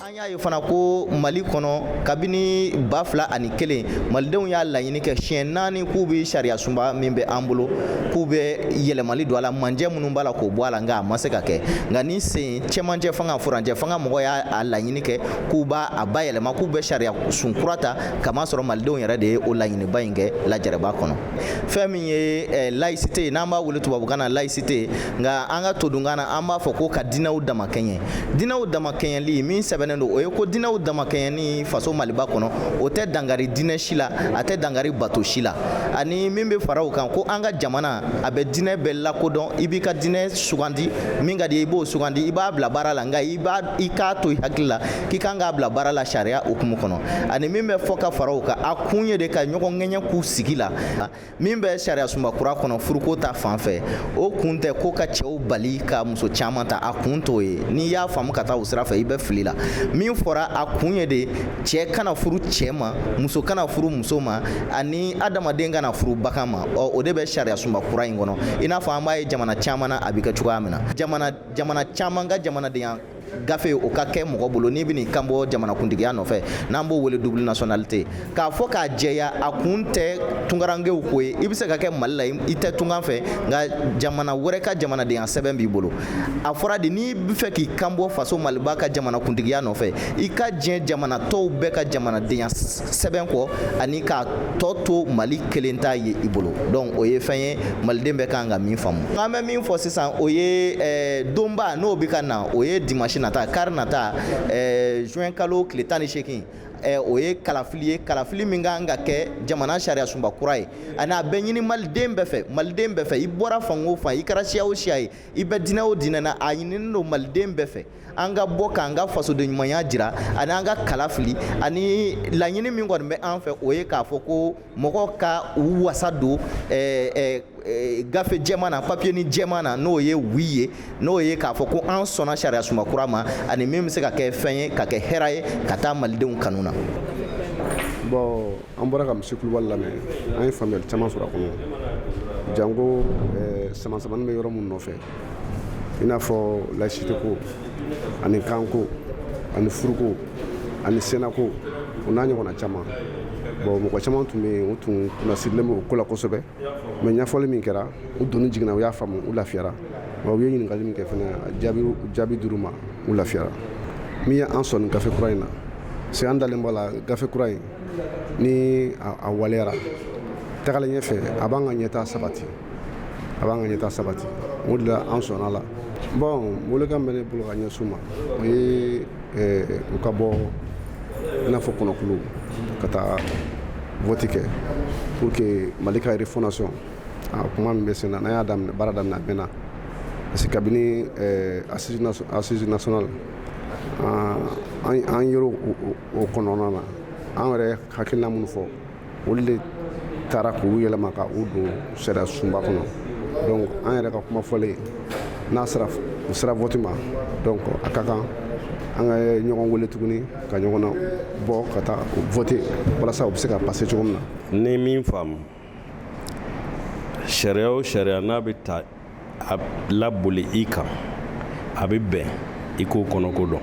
An y'a ye fana ko Mali kɔnɔ kabini 2001 malidenw y'a laɲini kɛ siɲɛ naani k'u bɛ sariyasunba min bɛ an bolo k'u bɛ yɛlɛmali don a la manjɛ minnu b'a la k'o bɔ a la nka a ma se ka kɛ nka nin sen cɛmancɛ fanga furancɛ fanga mɔgɔ y'a laɲini kɛ k'u b'a a bayɛlɛma k'u bɛ sariyasun kura ta kamasɔrɔ malidenw yɛrɛ de ye o laɲiniba in kɛ lajɛrɛba kɔnɔ fɛn min ye eh, laïcité ye n'an b'a wele tubabukan na laïcité nka an ka todunkan na an b'a fɔ ko ka dinɛw damakɛɲɛ dinɛw damakɛɲɛli min sɛbɛnnen don o ye ko dinɛw damakɛɲɛni faso maliba kɔnɔ o tɛ dangari dinɛ si la a tɛ dangari bato si la ani min bɛ fara o kan ko an ka jamana a bɛ dinɛ bɛɛ lakodɔn i b'i ka dinɛ sugandi min ka di i b'o sugandi i b'a bila baara la nka i b'a i k'a to i hakili la k'i kan k'a bila baara la sariya hukumu kɔnɔ ani min bɛ fɔ ka fara o kan a kun ye de ka ɲɔgɔn kɛɲɛ k'u sigi la min bɛ sariya sunba kura kɔnɔ furuko ta fan fɛ o kun tɛ ko ka cɛw bali ka muso caman ta a kun t'o ye n'i y'a faamu ka taa o sira fɛ i bɛ fili la min fɔra a kun ye de cɛ kana furu cɛ ma muso kana furu muso ma ani adamaden kana furu bagan ma ɔ o de bɛ sariya sunba kura in kɔnɔ i n'a fɔ an b'a ye jamana caman na a bɛ kɛ cogoya min na jamana caman ka jamanadenya gafe o ka kɛ mɔgɔ bolo n'i bɛn'i kan bɔ jamanakuntigiya nɔfɛ n'an b'o wele double nationalité k'a fɔ k'a jɛya a kun tɛ tunkarankew ko ye i bɛ se ka kɛ mali la i tɛ tunkan fɛ nka jamana wɛrɛ ka jamanadenya sɛbɛn b'i bolo a fɔra de n'i bɛ fɛ k'i kan bɔ faso maliba ka jamanakuntigiya nɔfɛ i ka diɲɛ jamana tɔw bɛɛ ka jamanadenya sɛbɛn kɔ ani k'a tɔ to mali kelen ta ye i bolo donc o ye fɛn ye maliden bɛɛ kan ka min faamu an bɛ min fɔ sisan o ye eh, donba n'o bɛ ka na o ye dimanche nata kari nata eh, juin kalo tile tan ni seegin eh, o ye kalafili ye kalafili min kan ka kɛ jamana sariyasunba kura ye ani a bɛ ɲini maliden bɛɛ fɛ maliden bɛɛ fɛ i bɔra fan o fan i kɛra siya o siya ye i bɛ dinɛ o dinɛ na a ɲininen don maliden bɛɛ fɛ an ka bɔ k'an ka fasoden ɲumanya jira ani an ka kala fili ani laɲini min kɔni bɛ an fɛ o ye k'a fɔ ko mɔgɔw ka u wasa don eh, eh, eh, gafe jɛman na papiyenin jɛman na n'o ye wi ye n'o ye k'a fɔ ko an sɔnna sariya sunba kura ma ani min bɛ se ka kɛ fɛn ye ka kɛ hɛra ye ka taa malidenw kanu na bon an bɔra ka monsieur Kulubali lamɛn an ye faamuyali caman sɔrɔ a kɔnɔ janko samasamani bɛ yɔrɔ min nɔfɛ i n'a fɔ layisiteko ani kanko ani furuko ani senako o n'a ɲɔgɔnna caman bon mɔgɔ caman tun bɛ yen u tun kunnasirilen bɛ o ko la kosɛbɛ mais ɲɛfɔli min kɛra u doni jiginna u y'a faamu u lafiyara wa u ye ɲininkali min kɛ fana jaabi dir'u ma u lafiyara min ye an sɔnni gafe kura in na c'est an dalen b'a la gafe kura in ni a waleyara tagalen ɲɛfɛ a b'an ka ɲɛtaa sabati a b'an ka ɲɛtaa sabati o de la an sɔnna la bon welekan bɛ ne bolo ka ɲɛsin u ma o ye eh, u ka bɔ i n'a fɔ kɔnɔkulu ka taa vɔti kɛ pour que mali ka refondation a kuma min bɛ sen na n'an y'a daminɛ baara daminɛ a mɛnna parce que kabini eh, assise nationale an yɛrɛ o kɔnɔna na an yɛrɛ hakilina minnu fɔ olu de taara k'u yɛlɛma ka u don sariya sunba kɔnɔ donc an yɛrɛ ka kuma fɔlen n'a sera vote ma donc a ka kan an ka ɲɔgɔn wele tuguni ka ɲɔgɔn nabɔ ka taa vote walasa u bɛ se ka pase cogo min na n ye min faamu sariya o sariya n'a bɛ taa laboli i kan a bɛ bɛn i k'o kɔnɔko dɔn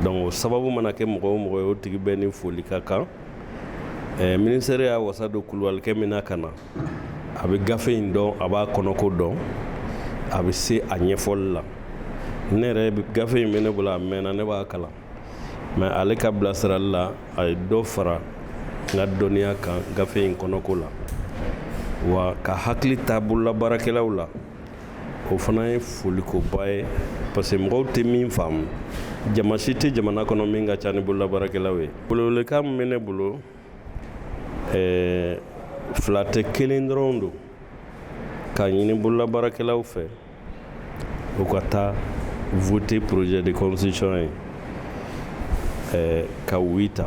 donc o sababu mana kɛ mɔgɔ o mɔgɔ ye o tigi bɛɛ ni foli ka kan eh, ministère y'a wasa don kulubalikɛ min na ka na a bɛ gafe in dɔn a b'a kɔnɔko dɔn a bɛ se a ɲɛfɔli la ne yɛrɛ gafe in bɛ ne bolo a mɛnna ne b'a kalan mais ale ka bilasirali la a ye dɔ fara n ka dɔnniya kan gafe in kɔnɔko la wa ka hakili ta bololabaarakɛlaw la o fana ye folikoba ye parce que mɔgɔw tɛ min faamu jama si tɛ jamana kɔnɔ min ka ca ni bololabaarakɛlaw ye bon welekan min bɛ ne bolo eh, fila tɛ kelen dɔrɔn don k'a ɲini bololabaarakɛlaw fɛ u ka taa vote projet de constitution ye eh, ka wi ta